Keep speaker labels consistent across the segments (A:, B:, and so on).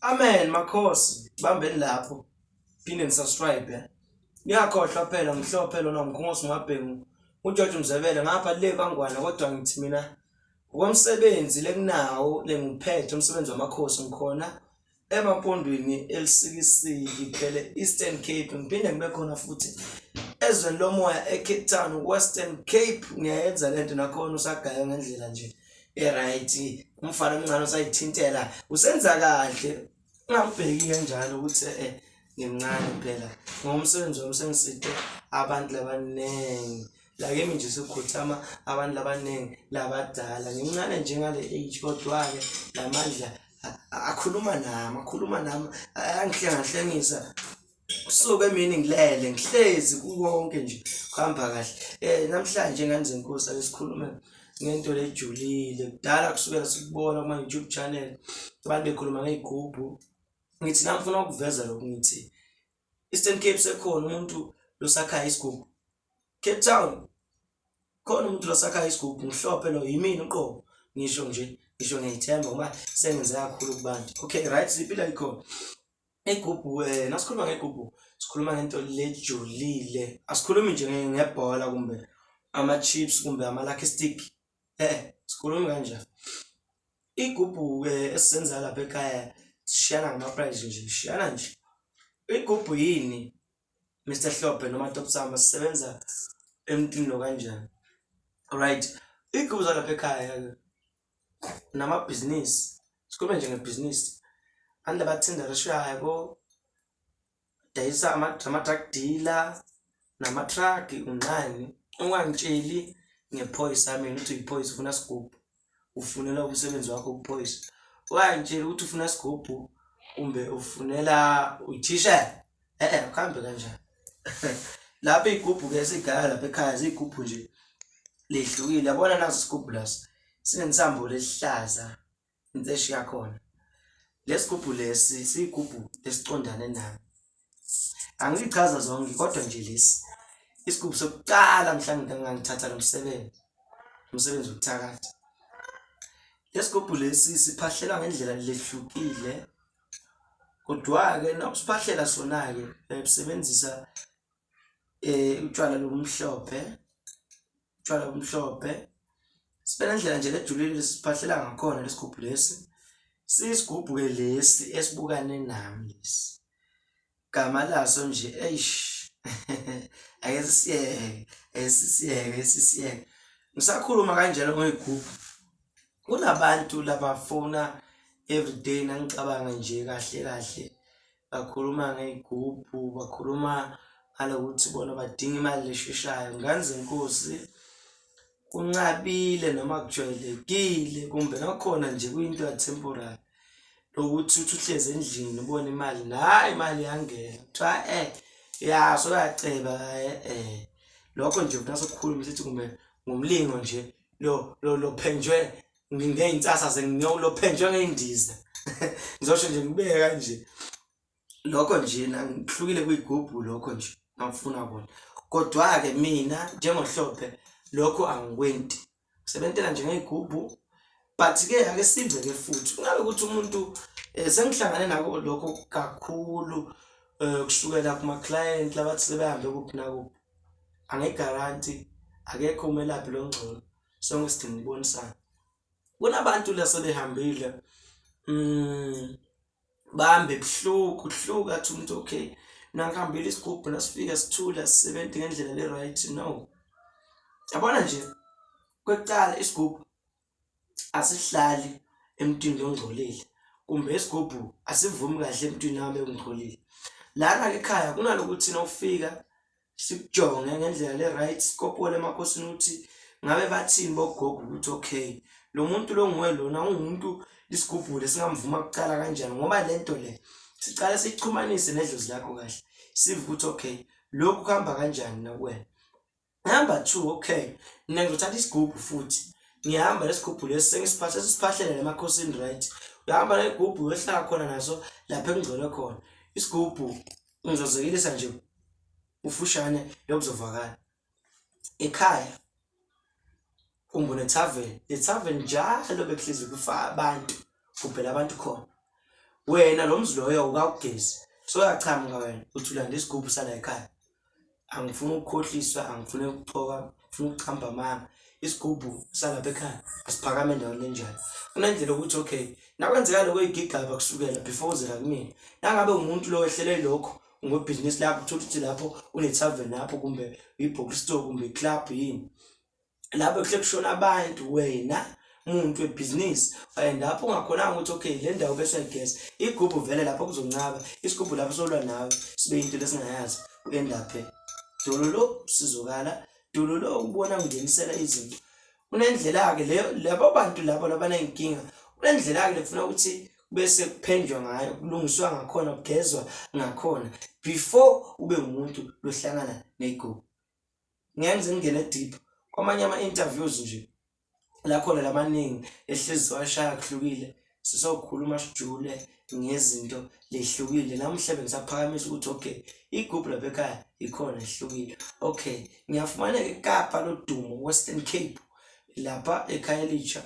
A: Amen makhosi bambeni lapho phinde ni subscribe eh. Ngiyakhohlwa phela ngihlophe lona ngikhosi mabhengu uJojo Mzebele ngapha le bangwana kodwa ngithi mina ngokomsebenzi lekunawo lengiphethe umsebenzi wamakhosi ngikhona emampondweni elisikisiki phele Eastern Cape ngiphinde ngibe khona futhi ezweni lomoya eCape Town Western Cape ngiyayenza lento nakhona usagaya ngendlela nje eright umfana omncane usayithintela usenza kahle ungambheki kanjalo ukuthi eh ngimncane phela ngomsebenzi wami sengiside abantu labaningi la kimi nje sekukhothama abantu labaningi labadala ngimncane njengale age kodwa-ke namandla akhuluma nami akhuluma nami angihlengahlengisa kusuke emini ngilele ngihlezi kukonke nje kuhamba kahle um namhlanje ngane zenkosi ake sikhulume ngento lejulile kudala kusukela sikubona kuma-youtube channel abantu bekhuluma ngey'gubhu ngithi namfuna ukuveza lokhu ngithi eastern cape sekhona umuntu losakhaya isigubhu cape town khona umuntu losakhaya isigubhu ngihlophe lo yimini uqobo ngisho nje ngisho ngiyithemba ngoba sengenze kakhulu kubantu okay right siphila ikhona Igubhu um nasikhuluma ngegubhu sikhuluma ngento lejulile asikhulumi nje ngebhola kumbe ama-chips kumbe ama-lucky stick e-e sikhulumi kanjani igubhu-ke esizenza lapha ekhaya sishiyana ngama-prize nje sishiyana nje igubhu yini mr hlobhe noma top sama sisebenza emntwini lo kanjani right iy'gubhu zalapha ekhaya-ke namabhizinisi sikhulume nje ngebhizinisi abantu abathinda rishayabo dayisa ama-drug dealer nama-truck unqani ungangitsheli ngephoyisa mina ukuthi uyiphoyisa ufuna sigubhu ufunela umsebenzi wakho ukuphoyisa ungangitsheli ukuthi ufuna sigubhu kumbe ufunela uthishela eh eh kuhambe kanjani lapha igubhu ke sigaya lapha ekhaya zigubhu nje lehlukile yabona nazo sigubhu laso sinensambo lesihlaza inseshi yakhona lesigubhu lesi sigubhu esiqondane nayo angichaza zonke kodwa nje lesi isigubhu sokuqala mhlawumbe ngangithatha lo msebenzi umsebenzi wokuthakatha lesigubhu lesi siphahlela ngendlela lehlukile Kodwa-ke nakusiphahlela sona-ke sisebenzisa um utshwala lobumhlophe, utshwala obumhlophe. Sibe nendlela nje ejulile esiphahlela ngakhona lesi gubhu lesi. Siyisigubhu-ke lesi esibukane nami lesi. Igama laso nje eish ake sisiyeke ake sisiyeke sisiyeke ngisakhuluma kanjalo ngoyigubhu kunabantu labafuna everyday nangicabanga nje kahle kahle bakhuluma ngey'gubhu bakhuluma ngalokuthi bona badinga imali esheshayo nganzi nkosi. kunqabile noma kujwayelekile kumbe nakhona nje kuyinto yatemporary lokuthi uthi uhlezi endlini ubone imali nayi imali yangena kuthiwa eh yaso uyaceba eh, eh lokho nje mntase kukhuluma sithi kumbe ngumlingo nje lo lo lophenjwe ngey'nsasa zengiyolophenjwe ngey'ndiza ngizosho nje ngibeke kanje lokho nje nangihlukile kuyigubhu lokho nje ngakufuna kona kodwa-ke mina njengohlophe lokho angikwenti sebentela nje ngey'gubhu but-ke ake sive-ke futhi kungabe ukuthi umuntu um sengihlangane nako lokho kakhulu um kusukela kuma-client labathi sebehambe kuphi nakuphi angegaranti akekho umelaphi lo ngcono sonke sidinga ukubonisana kunabantu la sebehambile um bambe buhlungu kuhlungu athi umuntu okay nakuhambile isigubhu nasifika sithula sisebenze ngendlela le right no yabona nje kwecala isigubhu asihlali emntwini ongcolile kumbe isigubhu asivumi kahle emntwini nami engigcolile lana ekhaya kunalokuthi nawufika sikujonge ngendlela le right sikopole emakhosini ukuthi ngabe bathini bogogo ukuthi okay lo muntu lo nguwe lona ungumuntu isigubhule singamvuma kucala kanjani ngoba le nto le sicale sixhumanise nedlozi lakho kahle sive ukuthi okay lokhu kuhamba kanjani nakuwena number two okay mina ngizothatha isigubhu futhi ngihamba lesigubhu lesi sengisiphatha sesiphahlele lemakhosini right uyahamba negubhu uyohlala khona naso lapho engcole khona isigubhu Ngizozikilisa nje ufushane lokuzovakala. Ekhaya umbone tavern, le tavern njalo bekuhlezi kufa abantu, kubhela abantu khona. Wena lo mzi loyo awukawugezi, soyachamuka wena uthi ulanda isigubhu sala ekhaya. angifuni ukukhohliswa angifuni ukuxoka ngifuna ukuchamba amanga isigubhu salapha ekhaya asiphakame endaweni enjalo kunendlela ukuthi okay nakwenzeka lokho igigaba kusukela before uzela kumina nangabe umuntu lo wehlele lokho ngobhizinisi lakho uthole ukuthi lapho une-tarven lapho kumbe ibhokistore kumbe iclub yini lapho kuhle kushona abantu wena muntu webhizinisi and lapho ungakhonanga ukuthi okay le ndawo bese uyageza igubhu vele lapho kuzoncaba isigubhu lapho solwa nawe sibe into lesingayazi uendaphe dololo sizokala dololo ukubona ungenisela izinto kunendlela-ke leyo labo bantu labo labaney'nkinga kunendlela-ke lekufuna ukuthi bese kuphendwa ngayo kulungiswa ngakhona kugezwa ngakhona before ube umuntu lohlangana ney'gubhu ngenze ngingene deep kwamanye ama-interviews nje la khona lamaningi ehlezi washaya kuhlukile sizokhuluma sijule ngezinto lehlukile namuhla bengisaphakamisa ukuthi okay igubhu lapha ekhaya ikhona ehlukile okay ngiyafumaneka ekapa lodumo western cape lapha ekhaya elisha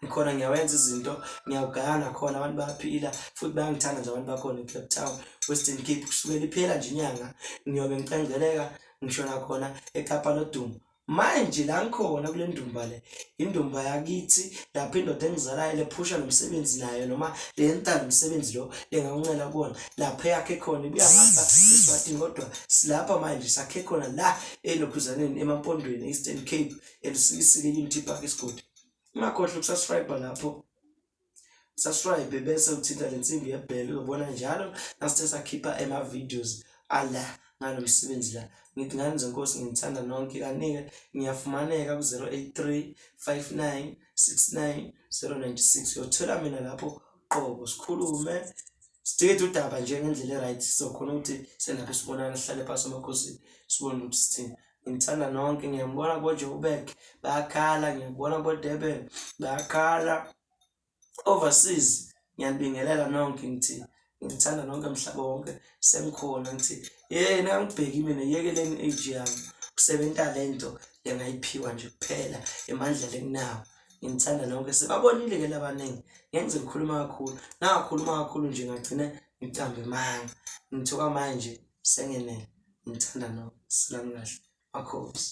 A: ngikhona ngiyawenza izinto ngiyawugaya nakhona abantu bayaphila futhi bayangithanda nje abantu bakhona ecape town western cape kusukela iphela nje inyanga ngiyobe ngicengeleka ngisho nakhona ekapa lodumo manje la ngikhona kule ndumba le indumba yakithi lapho indoda engizalayo lephusha nomsebenzi nayo noma lenta nomsebenzi lo lengakuncela kuwona lapho eyakhe khona ibuya ngapha eswatini kodwa silapha manje sakhe khona la enokhuzaneni emampondweni e-eastern cape elisisi lelimithi iphaka isigodi ungakhohlwa ukusubscribe lapho subscribe bese uthinta le nsimbi yebhele uzobona njalo nasithe sakhipha ema-videos ala ngalo msebenzi la ngithi ngani zenkosi nginithanda nonke kanike ngiyafumaneka ku-083 59 69 096 uyothola mina lapho qobo sikhulume sidikede udaba nje ngendlela e-right sizokhona ukuthi senapho sibonana sihlale phasi emakhosini sibone ukuthi sithini ngimthanda nonke ngiyambona bojoburg bayakhala ngiyakubona bodurban bayakhala overseas ngiyanibingelela nonke ngithi ngithanda nonke mhlaba wonke sengikhona ngithi yena angibheki mina yekeleni age yami kusebenza le nto engayiphiwa nje kuphela emandla lenginawo ngimthanda nonke sebabonile ke labaningi ngenze ngikhuluma kakhulu nangakhuluma kakhulu nje ngagcine ngicambe manga ngithuka manje sengenele ngithanda nonke silalokhu kahle makhosi.